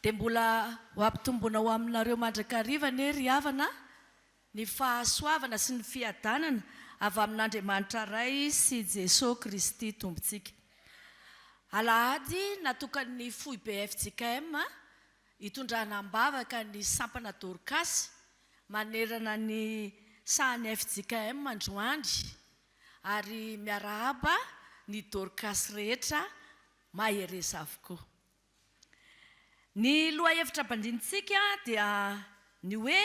Dia mbola ho ampitomboina ho aminareo mandrakariva anie ry havana ny fahasoavana sy ny fiadanana avy amin'Andriamanitra Ray sy Jesoa Kristy Tompontsika. Alahady natokan'ny foibe fjkm hitondrana am-bavaka ny sampana Dorcas manerana ny sahan'ny fjkm androany. Ary miarahaba ny Dorcas rehetra mahereza avokoa. Ny lohahevitra bandinitsika dia ny hoe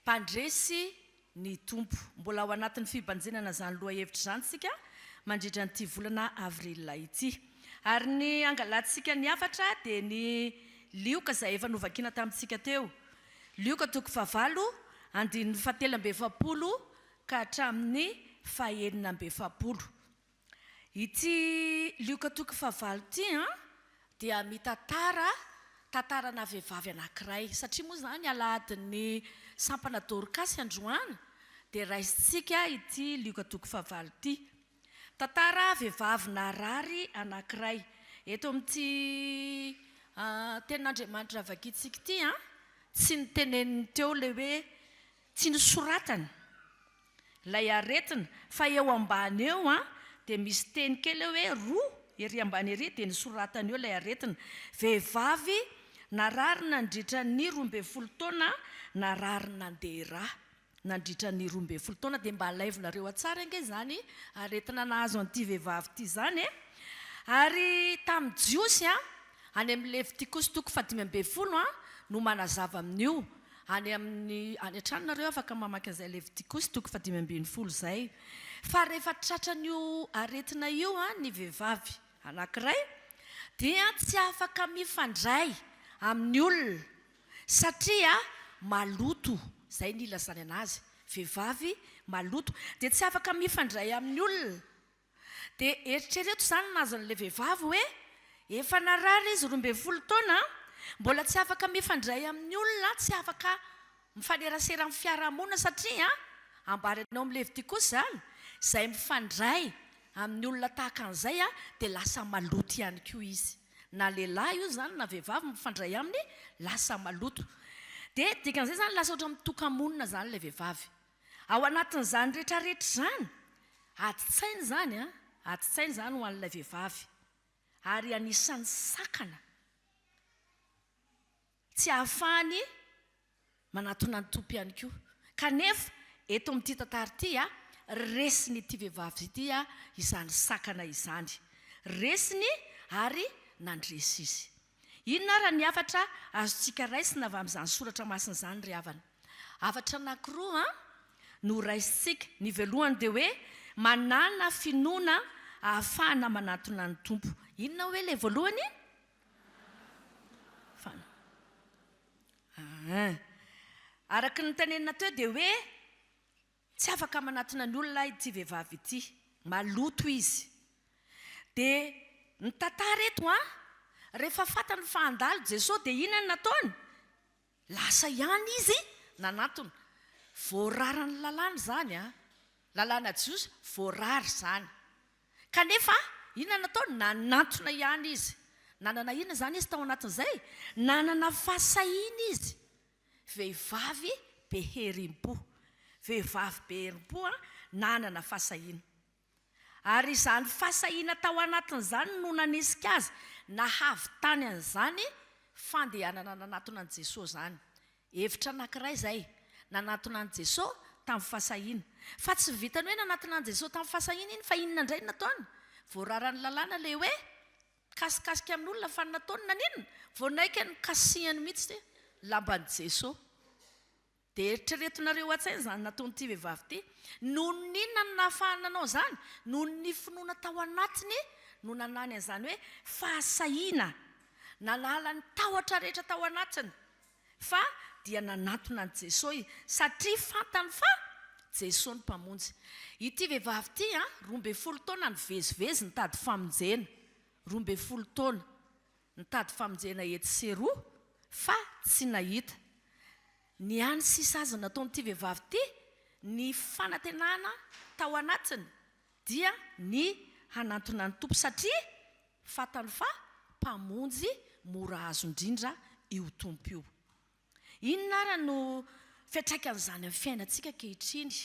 mpandresy ny Tompo. Mbola ao anatin'ny fibanjinana izany lohahevitra izany isika mandritra an'ity volana avril ity. Ary ny hangalantsika ny hafatra dia ny lioka izay efa novakiana tamintsika teo. Lioka toko fahavalo, andininy fahatelo amby efapolo ka hatramin'ny fahenina amby efapolo. Ity Lioka toko fahavalo ity dia mitantara tantarana vehivavy anankiray, satria moa izany Alahadin'ny Sampana Dorkasy androany dia raisintsika ity Lioka toko fahavalo ity. Tantara vehivavy narary anankiray. Eto amin'ity Tenin'Andriamanitra vakintsika ity, tsy noteneniny teo ilay hoe Tsy nosoratany ilay aretina fa eo ambany eo an dia misy teny kely eo hoe roa ery ambany ery dia nosoratany eo ilay aretina. Vehivavy narary nandritra ny roa ambin'ny folo taona narary nandeha rà nandritra ny roa ambin'ny folo taona dia mba alaivolareo atsara ange izany aretina nahazo an'ity vehivavy ity izany e! ary tamin'ny jiosy an, any amin'ny levitikosytoko fahadimy ambin'ny folo an no manazava amin'io Any amin'ny any an-trano nareo afaka mamaky an'izay Levitikosy toko fahadimy ambin'ny folo izay. Fa rehefa tratran'io aretina io ny vehivavy anankiray dia tsy afaka mifandray amin'ny olona satria maloto, izay ny ilazany anazy, vehivavy maloto dia tsy afaka mifandray amin'ny olona. Dia eritrereto izany mahazo an'ilay vehivavy hoe efa narary izy roa ambin'ny folo taona, mbola tsy afaka mifandray amin'ny olona, tsy afaka mifanerasera amin'ny fiarahamonina satria ambarany ao amin'ny Levitikosa izany, izay mifandray amin'ny olona tahaka an'izay dia lasa maloto ihany koa izy. Na lehilahy io izany na vehivavy mifandray aminy, lasa maloto. Dia dikan'izay izany lasa ohatran'ny mitoka-monina izany ilay vehivavy. Ao anatin'izany rehetrarehetra izany, adin-tsaina izany an, adin-tsaina izany ho an'ilay vehivavy ary anisan'ny sakana tsy ahafahany manatona an'i Tompo ihany koa. Kanefa eto amin'ity tantara ity an, resin'ity vehivavy ity izany sakana izany, resiny ary nandresy izy. Inona ary ny hafatra azontsika raisina avy amin'izany soratra masina izany ry havana? Hafatra anankiroa no raisintsika. Ny voalohany dia hoe manàna finoana ahafahana manatona ny Tompo. Inona hoe ilay voalohany? Fana. Araka ny notenenina teo dia hoe Tsy afaka manatona ny olona ity vehivavy ity, maloto izy. Dia ny tantara eto an, rehefa fantany fa handalo Jesoa dia inona no nataony? Lasa ihany izy nanatona. Voararan'ny lalàna izany an, lalàna jiosy voarara izany. Kanefa inona no nataony? Nanatona ihany izy. Nanana inona izany izy tao anatin'izay? Nanana fahasahiana izy. Vehivavy be herim-po. Vehivavy be herim-po nanana fahasahiana. Ary izany fahasahiana tao anatiny izany no nanisika azy nahavitany an'izany fandehanana nanatona an'i Jesoa izany. Hevitra anankiray izay, nanatona an'i Jesoa tamin'ny fahasahiana. Fa tsy vitan'ny hoe nanatona an'i Jesoa tamin'ny fahasahiana iny fa inona indray no nataony? Voararan'ny lalàna ilay hoe Mikasikasika amin olona fa nataony naninona? Vao naika ny kasihany mitsy ty lamban Jeso de eritrereto nareo atsaina izany nataon ty vehivavy ty noho ny inona no nahafahany nanao izany? Noho ny finoana tao anatiny no nanany an'izany hoe fahasahiana nanala ny tahotra rehetra tao anatiny fa dia nanatona an'i Jesoy satria fantany fa Jesoa no Mpamonjy. Ity vehivavy ity an, roa ambin'ny folo taona nivezivezy nitady famonjena, roa ambin'ny folo taona nitady famonjena etsy sy eroa fa tsy nahita. Ny hany sy sazy nataon'ity vehivavy ity, ny fanantenana tao anatiny dia ny hanantona ny Tompo satria fantany fa Mpamonjy mora azo indrindra io Tompo io. Inona ary no fiantraikan'izany amin'ny fiainantsika ankehitriny?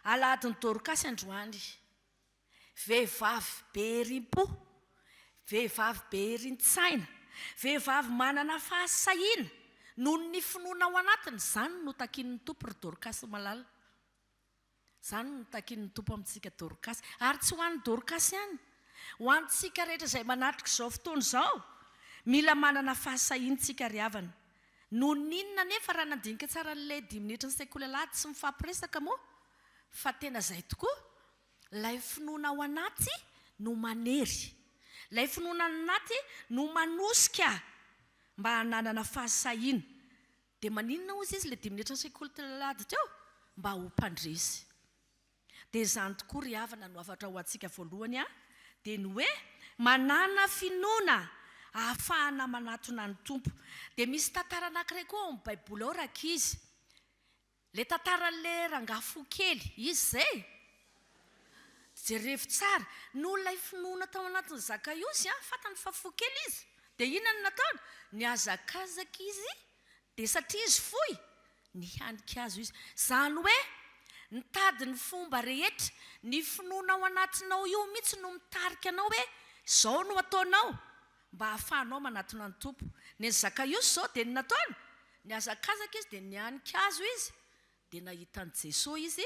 Alahadin'i Dorkasy androany, vehivavy be herim-po, vehivavy be herin-tsaina, vehivavy manana fahasahiana noho ny finoana ao anatiny, izany no takian'ny Tompo ry Dorkasy malala. Izany no nitakian'ny Tompo amintsika Dorkasy. Ary tsy ho an'i Dorkasy ihany. Ho antsika rehetra izay manatrika izao fotoana izao. Mila manana fahasahiana isika ry havana. Nohon'ny inona anefa raha nandinika tsara an'ilay dimy minitra ny sekoly alahady tsy mifampiresaka moa? Fa tena izay tokoa. Ilay finoana ao anaty no manery. Ilay finoana any anaty no manosika mba hananana fahasahiana. Dia maninona ozy izy ilay dimy minitra sekoly tlalady teo? Mba ho mpandresy. Dia izany tokoa ry havana no hafatra ho antsika voalohany an, dia ny hoe manana finoana ahafahana manatona ny Tompo. Dia misy tantara anankiray koa ao amin'ny baiboly ao rankizy, Le tantaran'le rangahy fo kely, izy zay? Jerevo tsara, noho ilay finoana tao anatin'i Zakaiosy an, fantany fa fo kely izy, dia inona no nataony? Nihazakazaka izy, dia satria izy foy, nihanika azy izy. Izany hoe, nitady ny fomba rehetra, ny finoana ao anatinao io mihitsy no mitarika anao hoe izao no ataonao, Mba hahafahanao manatona ny Tompo. Ny an'i Zakaiosy izao dia ny nataony, nihazakazaka izy dia nihanika hazo izy, dia nahita an'i Jesoa izy,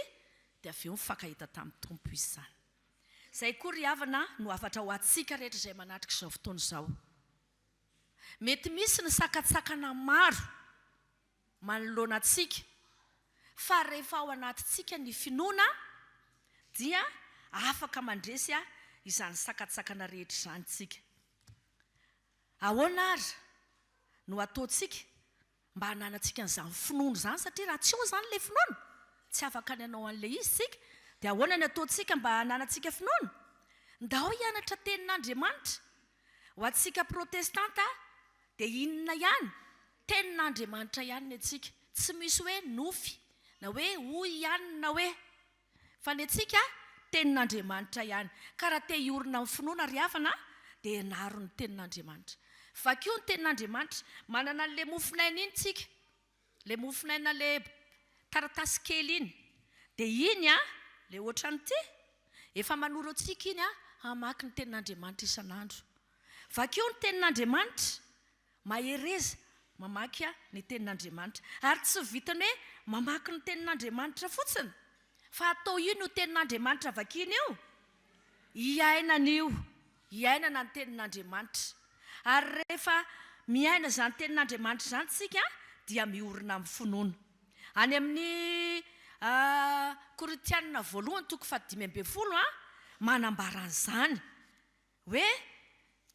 dia avy eo nifankahita tamin'ny Tompo izy izany. Izay koa ry havana no hafatra ho antsika rehetra izay manatrika izao fotoana izao. Mety misy ny sakantsakana maro. manoloana antsika, fa rehefa ao anatintsika ny finoana dia afaka mandresy izany sakantsakana rehetra izany isika. Ahoana ary no ataontsika mba hananantsika an'izany finoana izany satria raha tsy eo izany ilay finoana tsy afaka ny hanao an'ilay izy isika, dia ahoana ny ataontsika mba hananantsika finoana? Ndao hianatra tenin'Andriamanitra Ho antsika protestanta dia inona ihany? Tenin'Andriamanitra ihany ny antsika. Tsy misy hoe nofy, na hoe hoy ihany na hoe. Fa ny antsika tenin'Andriamanitra ihany. Ka raha te hiorina amin'ny finoana ry havana dia ianaro ny tenin'Andriamanitra. Vakio ny tenin'Andriamanitra. Manana an'ilay mofon'aina iny tsika. Le mofonaina le taratasy kely iny de iny an le otran'ity efa manoro antsika iny an hamaky ny tenin'Andriamanitra isan'andro vakio ny tenin'Andriamanitra mahereza mamaky an ny tenin'Andriamanitra ary tsy vitan'ny hoe mamaky ny tenin'Andriamanitra fotsiny fa atao io ny ho tenin'Andriamanitra vakina io hiainana io iainana ny tenin'Andriamanitra. Ary rehefa miaina izany tenin'Andriamanitra izany isika dia miorina amin'ny finoana. Any amin'ny Korintianina voalohany toko fahadimy ambin'ny folo manambara an'izany hoe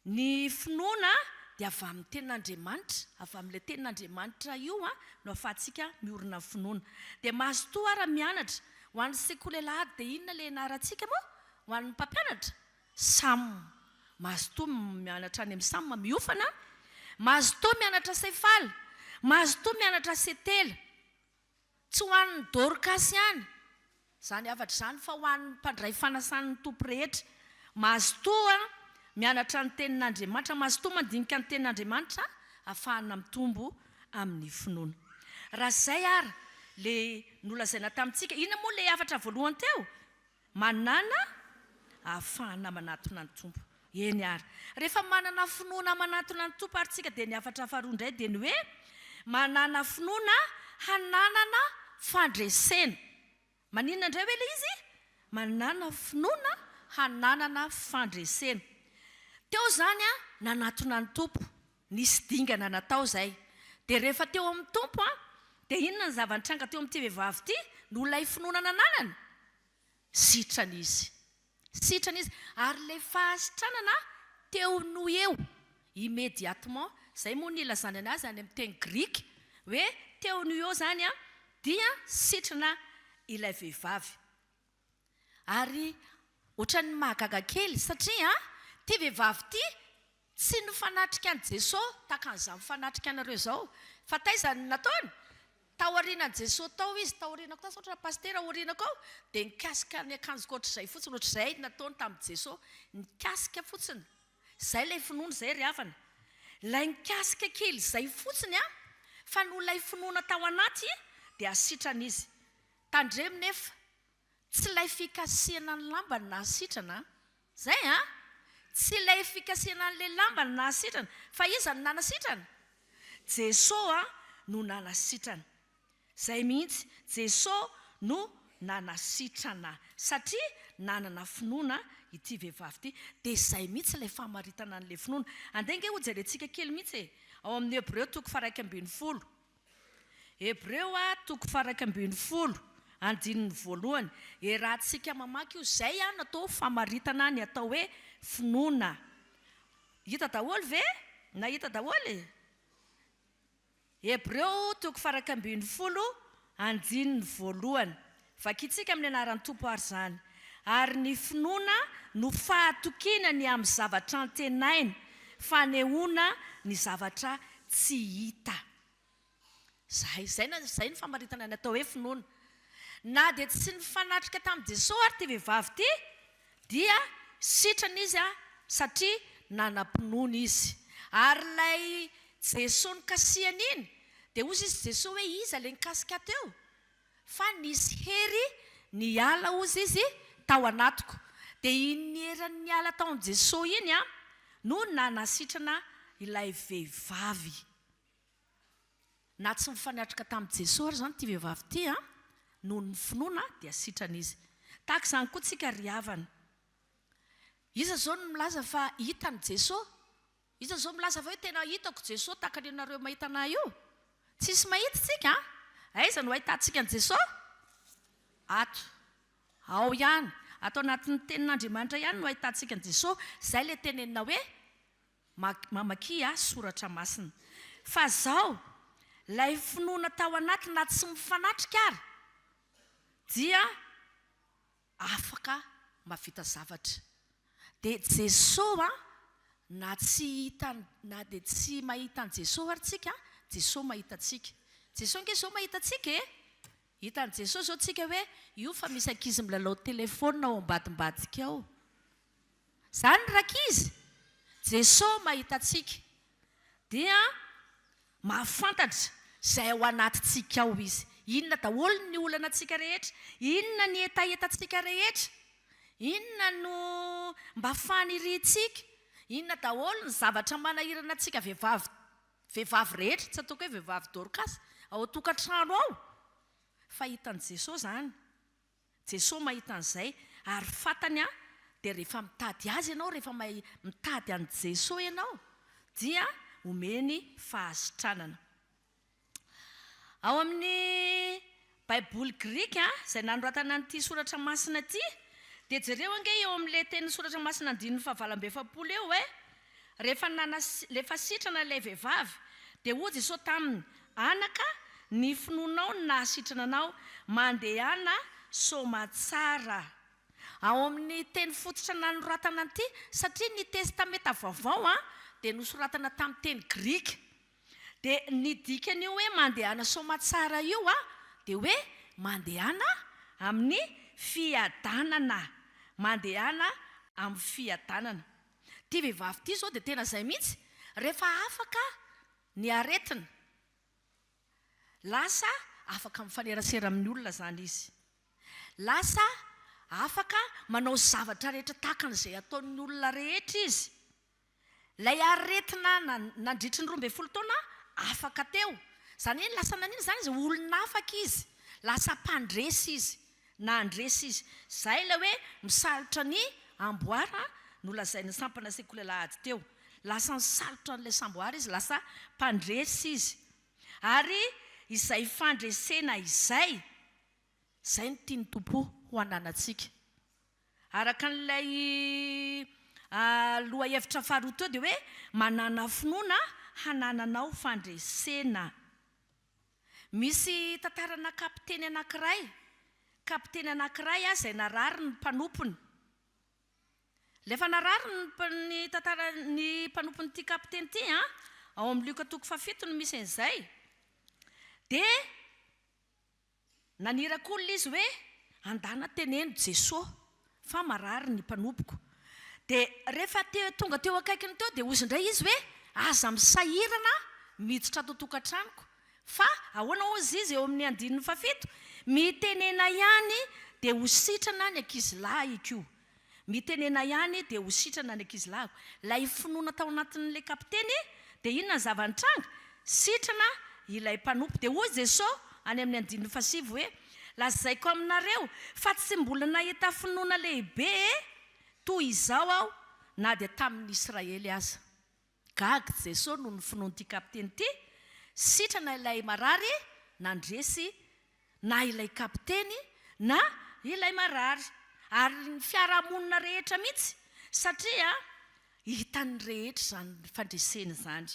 ny finoana dia avy amin'ny tenin'Andriamanitra, avy amin'ilay tenin'Andriamanitra io no ahafahantsika miorina amin'ny finoana. Dia mazotoa ary mianatra. Ho an'ny sekoly alahady dia inona ilay ianarantsika moa ho an'ny mpampianatra? Sam. Mazotoa mianatra any amin'ny Sam miofana Mazotoa mianatra Cefal Mazotoa mianatra Cetel Tsy ho an'ny Dorcas ihany izany hafatra izany fa ho an'ny mpandray fanasan'ny Tompo rehetra Mazotoa mianatra ny Tenin'Andriamanitra Mazotoa mandinika ny Tenin'Andriamanitra ahafahana mitombo amin'ny finoana Raha izay ary ilay nolazaina tamintsika Inona moa ilay hafatra voalohany teo? Manana ahafahana manatona ny Tompo. Eny ary. Rehefa manana finoana manatona ny Tompo ary tsika dia ny hafatra faharoa indray dia ny hoe manana finoana hananana fandresena. Maninona indray hoe ilay izy? Manana finoana hananana fandresena. Teo izany nanatona ny Tompo. Nisy dingana natao izay. Dia rehefa teo amin'ny Tompo aho, dia inona ny zava-nitranga teo amin'ity vehivavy ity? Noho ilay finoana nananany? Sitrana izy. Sitrana izy. Ary ilay fahasitranana teo noho eo, immédiatement, izay moa no ilazana ny azy any amin'ny teny grika, hoe teo noho eo izany dia sitrana ilay vehivavy. Ary ohatran'ny mahagaga kely satria ity vehivavy ity tsy nifanatrika an'i Jeso tahaka an'izao mifanatrika anareo izao. Fa taiza no nataony? Tao aorianan'i Jeso tao izy, tao aoriana koa, sao Pasitera aoriana koa dia nikasika ny akanjoko ohatr'izay fotsiny, ohatr'izay no nataony tamin'i Jeso, nikasika fotsiny. Izay ilay finoana izay ry havana. Ilay nikasika kely izay fotsiny fa noho ilay finoana tao anaty dia sitrana izy. Tandremo nefa, tsy ilay fikasihana ny lambany nahasitrana an! Izay an! Tsy ilay fikasihana an'ilay lambany nahasitrana, fa iza no nanasitrana? Jesoa no nanasitrana. Izay mihitsy, Jesoa no nanasitrana, satria nanana finoana ity vehivavy ity. Dia izay mihitsy ilay famaritana an'ilay finoana. Andeha ange hojerentsika kely mihitsy e! Ao amin'ny Hebreo toko faha-iraika ambin'ny folo. Hebreo a, toko faha iraika ambin'ny folo, andininy voalohany. Iarahantsika mamaky io. Izay an, atao famaritana ny atao hoe finoana. Hita daholo ve? Nahita daholo? Hebreo toko faha iraika ambin'ny folo, andininy voalohany. Vakintsika amin'ny anaran'ny Tompo àry izany. Ary ny finoana no fahatokiana ny amin'ny zavatra antenaina, fanehoana ny zavatra tsy hita. Izay, izay no, izay no famaritana ny atao hoe finoana. Na dia tsy nifanatrika tamin'i Jesoa ary ity vehivavy ity, dia sitrana izy satria nanam-pinoana izy. Ary ilay Jesoa nikasihany iny, dia hoy izy Jesoa hoe iza ilay nikasika teo? Fa nisy hery niala hozy izy tao anatiko. Dia iny heriny niala tao amin'i Jesoa iny no nanasitrana ilay vehivavy. Na tsy mifanatrika tamin'i Jesoa ary izany ity vehivavy ity an! Noho ny finoana dia sitrana izy. Tahaka izany koa tsika ry havana. Iza izao no milaza fa hitan'i Jesoa? Iza zao milaza fa hoe tena hitako Jesoa tahaka ny anareo mahita anah io? Tsisy mahita tsika an! Aiza no ahitantsika an'i Jesoa? Ato. Ao ihany. Ato anatin'ny tenin'Andriamanitra ihany no ahitantsika an'i Jesoa. Izay ilay tenenina hoe, mamakia ahy soratra masina. Fa izao, ilay finoana tao anaty na tsy mifanatrika ary dia. afaka mahavita zavatra. Dia Jesosy an, na tsy hita na dia tsy mahita an'i Jesosy ary tsika an, Jesosy mahita antsika. Jesosy ange izao mahita antsika e! Hitan'i Jesosy izao tsika hoe io fa misy ankizy milalao telefaonina ao ambadimbadika ao. Zany rankizy! Jeso mahitantsika dia mahafantatra izay ao anatintsika ao Izy. Inona daholo ny olanantsika rehetra? Inona ny hetahetantsika rehetra? Inona no mba faniriantsika? Inona daholo ny zavatra manahirana antsika vehivavy vehivavy rehetra, tsy ataoko hoe vehivavy dorcas, ao an-tokantrano ao? Fa hitan'i Jeso izany. Jesoa mahita an'izay ary fantany an dia rehefa mitady Azy ianao rehefa mahay mitady an'i Jesoa ianao dia omeny fahasitranana. Ao amin'ny baiboly grika izay nanoratana an'ity soratra masina ity dia jereo ange eo amin'ilay teny soratra masina andininy fahavalo amby efapolo eo hoe Rehefa nanas, rehefa sitrana ilay vehivavy, dia hoy Jesoa taminy, Anaka, ny finoanao no nahasitrana anao, mandehana soamatsara. Ao amin'ny teny fototra nanoratana an'ity, satria ny Testamenta Vaovao an, dia nosoratana tamin'ny teny grika. Dia ny dikan'io hoe mandehana soamatsara io an, dia hoe mandehana amin'ny fiadanana, mandehana amin'ny fiadanana. Ity vehivavy ity izao dia tena izay mihitsy, rehefa afaka ny aretina, lasa afaka mifanerasera amin'ny olona izany izy. Lasa afaka manao izay zavatra rehetra tahaka an'izay ataon'ny olona rehetra izy. Ilay aretina nandritry ny roa ambin'ny folo taona afaka teo. Izany hoe lasa nanina izany izy? Olona afaka izy, lasa mpandresy izy. Nandresy izy. Izay ilay hoe misalotra ny amboara nolazain'ny sampana sekoly alahady teo. Lasa nisalotra an'ilay samboara izy, lasa mpandresy izy. Ary izay fandresena izay, izay no tian'ny Tompo ho ananantsika. Araka an'ilay lohahevitra faharoa teo dia hoe manana finoana hanananao fandresena. Misy tantarana kapiteny anankiray, kapiteny anankiray ah izay narary ny mpanompony. Rehefa narary ny mpa- ny tantara- ny mpanompon'ity kapiteny ity an, ao amin'ny Lioka toko fahafito no misy an'izay, dia Naniraka olona izy hoe, Andana teneno Jesoa fa marary ny mpanompoko. Dia rehefa te tonga teo akaikiny teo dia hozy indray izy hoe, Aza misahirana miditra ato an-tokantranoko. Fa ahoana hozy izy eo amin'ny andininy fahafito? Mitenena ihany dia ho sitrana ny ankizilahiko. Mitenena ihany dia ho sitrana ny ankizilahiko. Ilay finoana tao anatin'ilay kapiteny dia inona ny zava-nitranga? Sitrana ilay mpanompo. Dia hoy Jesosy any amin'ny andininy fahasivy hoe, Lazaiko aminareo fa tsy mbola nahita finoana lehibe toy izao aho na dia tamin'ny Israely aza. Gaga Jesosy noho ny finoan'ity kapiteny ity, sitrana ilay marary nandresy na ilay kapiteny na ilay marary ary ny fiarahamonina rehetra mihitsy satria hitan'ny rehetra izany fandresena izany.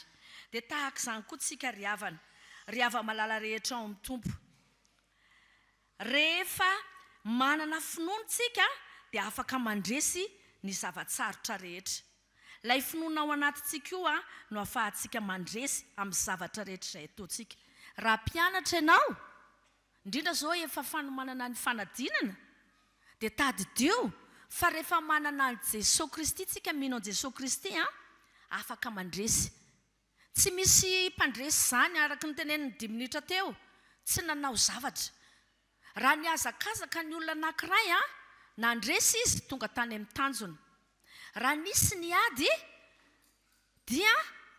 Dia tahaka izany koa tsika ry havana, ry hava-malala rehetra ao amin'ny Tompo. Rehefa manana finoana isika dia afaka mandresy ny zava-tsarotra rehetra. Ilay finoana ao anatintsika io no afahantsika mandresy amin'ny zavatra rehetra izay ataontsika. Raha mpianatra ianao, indrindra izao efa fanomanana ny fanadinana, dia tadidio fa rehefa manana an'i Jesoa Kristy isika, mino an'i Jesoa Kristy, afaka mandresy Tsy misy mpandresy izany araka ny tenenin'ny dimy minitra teo, tsy nanao zavatra. Raha nihazakazaka ny olona anankiray, nandresy izy, tonga tany amin'ny tanjona. Raha nisy ny ady, dia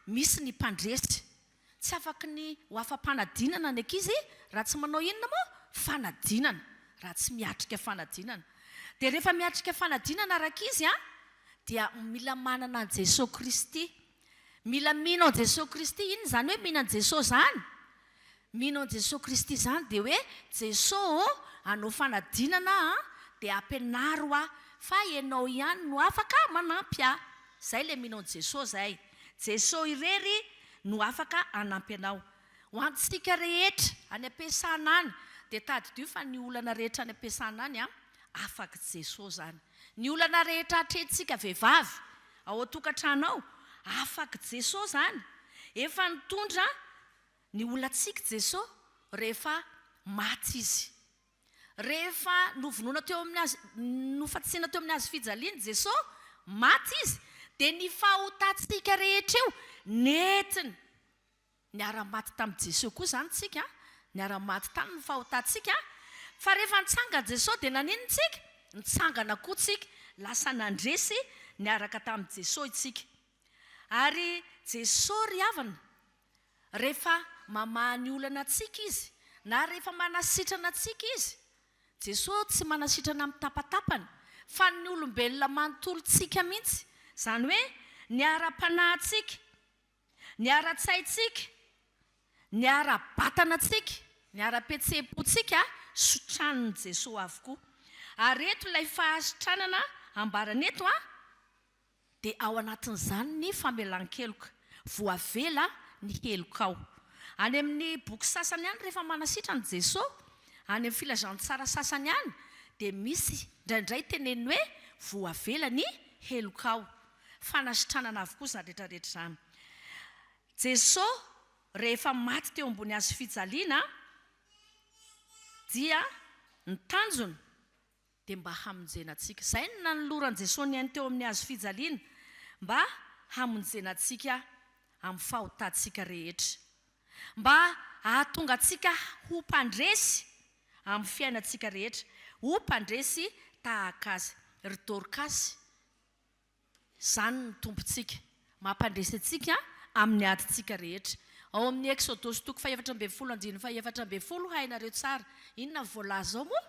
misy ny mpandresy. Tsy afaky ny ho afa-panadinana ny ankizy raha tsy manao inona moa? Fanadinana, raha tsy miatrika fanadinana. Dia rehefa miatrika fanadinana rankizy dia mila manana an'i Jesoa Kristy Mila mino an'i Jesoa Kristy. Inona izany hoe mino an'i Jesoa izany? Mino an'i Jesoa Kristy izany dia hoe, Jesoa ô, hanao fanadinana aho dia ampianaro ahy fa Ianao ihany no afaka manampy ahy. Izay ilay mino an'i Jesoa izay. Jesoa irery no afaka hanampy anao. Ho antsika rehetra any am-piasana any dia tadidio fa ny olana rehetra any am-piasana any, afak'i Jesoa izany. Ny olana rehetra atrehintsika vehivavy ao an-tokantrano ao, afak'i Jesoa izany. Efa nitondra ny olantsika Jesoa rehefa maty Izy. Rehefa novonoina teo amin'ny hazo, nofantsina teo amin'ny hazo fijaliana Jesoa, maty Izy, dia ny fahotantsika rehetra io nentiny. Niara-maty tamin'i Jesoa koa izany tsika, niara-maty taminy ny fahotantsika, fa rehefa nitsangana Jesoa dia naninona tsika? Nitsangana koa tsika, lasa nandresy niaraka tamin'i Jesoa itsika. Ary Jesoa ry havana, rehefa mamaha ny olana antsika Izy, na rehefa manasitrana antsika Izy, Jesoa tsy manasitrana mitapatapana, fa ny olombelona manontolo tsika mihintsy, izany hoe ny ara-panahintsika, Ny ara-tsaintsika, ny ara-batanantsika, ny ara-pihetseham-pontsika sotranin'i Jesoa avokoa. Ary eto ilay fahasitranana ambarany eto an, dia ao anatin'izany ny famelan-keloka, voavela ny helokao. Any amin'ny boky sasany any rehefa manasitrana i Jesoa, any amin'ny filazantsara sasany any dia misy indraindray teneniny hoe voavela ny helokao. fanasitranana avokoa izany retraretra izany. Jesosy rehefa maty teo ambony hazo fijaliana dia ny tanjony dia mba hamonjena antsika. Izay no nanoloran'i Jesosy ny ainy teo amin'ny hazo fijaliana mba hamonjena antsika amin'ny fahotantsika rehetra. Mba hahatonga antsika ho mpandresy amin'ny fiainantsika rehetra, ho mpandresy tahaka azy. Ry Dorkasy. Izany ny Tompontsika. Mampandresy antsika amin'ny adintsika rehetra. Ao amin'ny Eksodosy toko fahefatra ambin'ny folo andininy fahefatra ambin'ny folo, hainareo tsara. Inona no voalaza ao moa?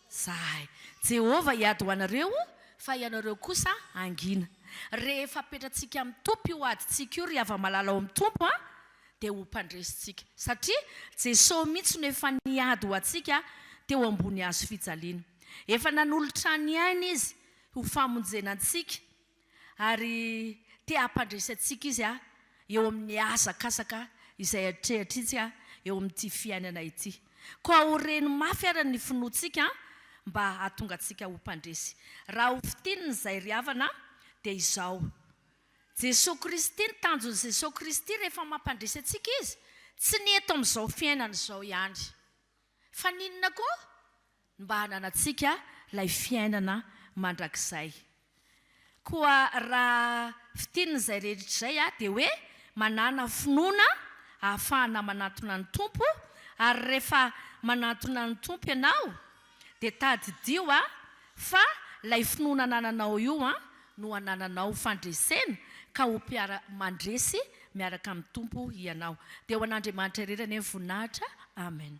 Izay. Jehovah hiady ho anareo, fa ianareo kosa hangina. Rehefa apetratsika amin'ny topy io adintsika io, ry hava-malala ao amin'ny Tompo a, dia ho mpandresintsika, satria Jesosy mihitsy no efa niady ho antsika teo ambony hazo fijaliana. Efa nanolotra ny ainy Izy ho famonjena antsika, ary te hampandresy antsika Izy eo amin'ny hazakazaka izay atrehatrintsika eo amin'ity fiainana ity. Koa ho reny mafy ary ny finoantsika mba hahatonga antsika ho mpandresy. Raha hofintinina izay ry havana dia izao. Jesoa Kristy, ny tanjon'i Jesoa Kristy rehefa mampandresy antsika Izy, tsy ny eto amin'izao fiainana izao ihany. Fa ny inona koa? Ny mba hananantsika ilay fiainana mandrakizay. Koa raha fitinin'izay rehetra izay aho dia hoe manana finoana ahafahana manantona ny Tompo, ary rehefa manantona ny Tompo ianao Dia tadidio a! fa lay finoana anananao io a! no anananao fandresena ka ho mpiara mandresy miaraka amin'ny Tompo hianao. Dia ho an'Andriamanitra irery anie ny voninahitra. Amen.